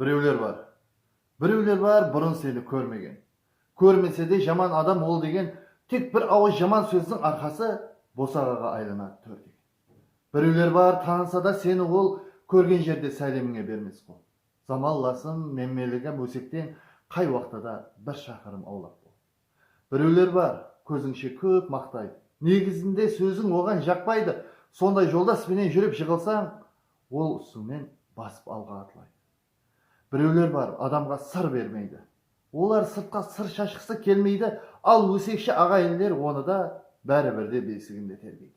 Birewler bar. Birewler bar burın seni kórmegen. Kórmese de jaman adam ol degen tek bir awız jaman sózdiń arqası bosaǵaǵa aylanad tór degen. Birewler bar tanısa da seni ol kórgen jerde sálemińe bermes qol. Zamallasım, menmeligim ósekten qay waqtada bir shaqırım awlaq bol. Birewler bar, kózińshe kóp maqtaydı. Negizinde sóziń oǵan jaqpaydı. Sonday joldas penen júrip jıǵılsań, ol usıńnen basıp alǵa atlaydı. Birewler bar, adamǵa sır bermeydi. Olar sırtqa sır shashqısı kelmeydi, al ósekshi aǵayinler onı da bári bir de besiginde tergeydi.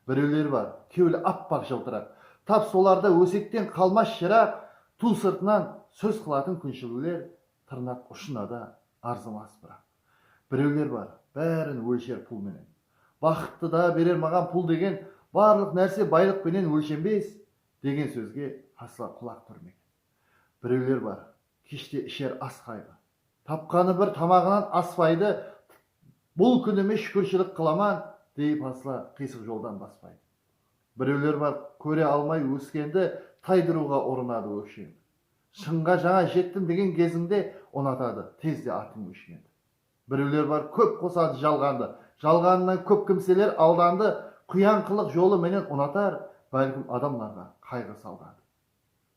Birewler bar, kewli appaq jıltıraq. Tap solarda ósekten qalmas jıraq, tuw sırtınan sóz qılatın kúnshiliwler Tırnaq ushınada arzimas biraq. Birewler bar, bárin ólsher pul menen. Baxıttı da berer maǵan pul degen, barlıq nárse baylıq penen ólshenbes, degen sózge asla qulaq túrmegen. Birewler bar, keshte isher as qayǵı. Tapqanı bir tamaǵınan aspaydı, bul kúnime shúkirshilik qılaman, deyip asla qıysıq joldan baspaydı. Birewler bar, kóre almay óskendi taydırıwǵa urınadı óksheńdi. Shıńǵa jańa jettim degen gezińde unatadı, tezde atıń óshinedi. Birewler bar kóp qosadı jalǵandı, jalǵanınan kóp kimseler aldandı, quyanqılıq jolı menen unatar, bálkim adamlarǵa qayǵı saldadı.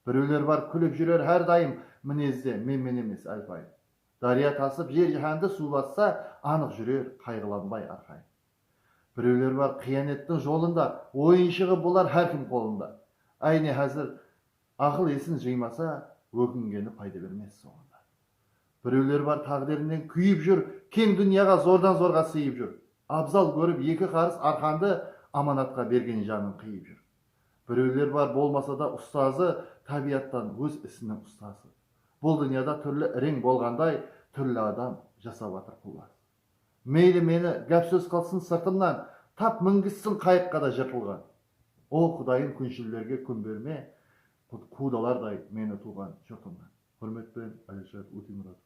Birewler bar kúlip júrer hár dayım minezde menmen emes álpayım. Dárya tasıp jer jáhándi suw bassa anıq júrer qayǵılanbay arqayım. Birewler bar qıyanettiń jolında, oyınshıǵı bolar hár kim qolında. Áyne házir Aqıl esin jıymasa, ókingeni payda bermes sońında. Birewler bar táǵdirinen kúyip júr, keń dúnyaǵa zordan-zorǵa sıyıp júr. Abzal kórip eki qarıs arqandı amanatqa bergen janın qıyıp júr. Birewler bar bolmasada ustazı, tábiyattan óz isiniń ustası. Bul dúnyada túrli ireń bolǵanday, túrli adam jasap atır qullas. Meyli meni gáp sóz qılsın sırtımnan tap mingissin qayıqqa da jırtılǵan O qudayım kúnshillerge kún berme qudalarday meni tuwǵan jurtımnan Húrmet penen Alirshat Ótemuratov.